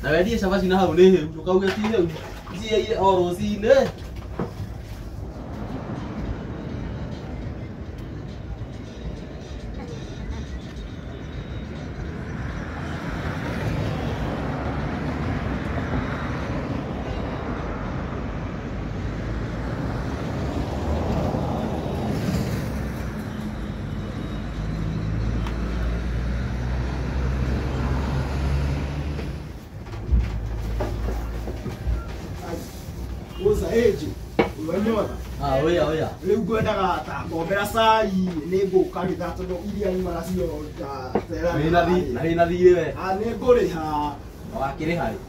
Na wendie cabaci na hau nĩ hĩu, ndũkauge ti hĩu. Njieire o rũcinĩ. Woza age, ũranyona? Ah, oya oya. Rĩu ngwendaga ta ngombera cai nĩ ngũka rĩtha tondũ iria imara cio ta Wĩna thi- na wĩna thiirĩ we. Ah, nĩ ngũrĩha Wakĩrĩha rĩ?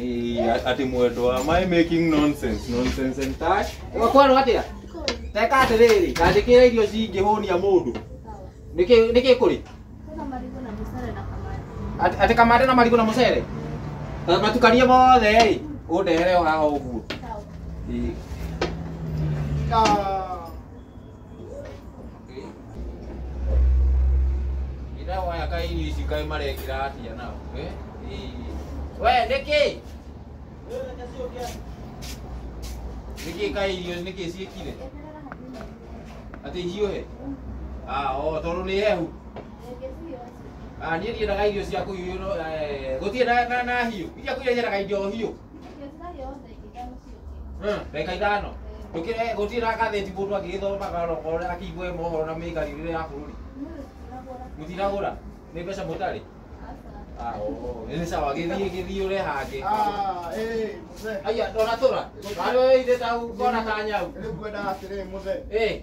Eh, ati mwendwa my making nonsense nonsense and touch kwero atia teka atiriri ndandikira irio cingĩhũnia mũndũ nĩkĩ nĩkĩ kũrĩ Ati- ati kamande na marigũ na mũcere Na matukanie mothe ĩ ũndehere o haha ũguo Ĩ. Ah. Ndawaya kai irio ici kai marekira atia nao. Eh? We, nĩkĩ? Nĩkĩ kai irio nĩkĩ ciĩkire? Atĩ ihiũhe? Ah, o tondũ nĩ hehu. Ah, niĩ ndiendaga irio cia kũhiũhio no eh, gũtirĩ na na na hiũ. Iria kũrĩa nyendaga indo hiũ. reka ithano tukire gutira gatheti mundu agigithomaga roko uria akiigue mohoro na miikarire ya bururi mutiragura ni mbeca mutari Ah, oh, ni sawa githii githii ure hangi Ah, eh, mzee. aya ndona tura ari ithe ta ukona ta nyau Nilikuenda asiri mzee. eh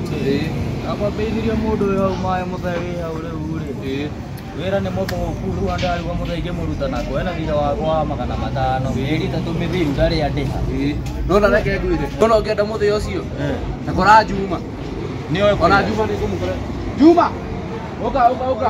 akwambĩithirio mũndũ wĩ hau maĩ mũthee wĩ hau rĩu rĩ wĩra nĩ mũthũku rĩu andũ arigwo mũthee ingĩmũruta nako ena thirĩ wakwa wa magana matano ĩri ta tũmĩthiru ndarĩ andĩha ndona reke ngwĩre ndona ũngĩenda mũthee ũcio na kora njuma nĩoe ona njuma nĩ ngũmũkora njuma ũka ũka ũka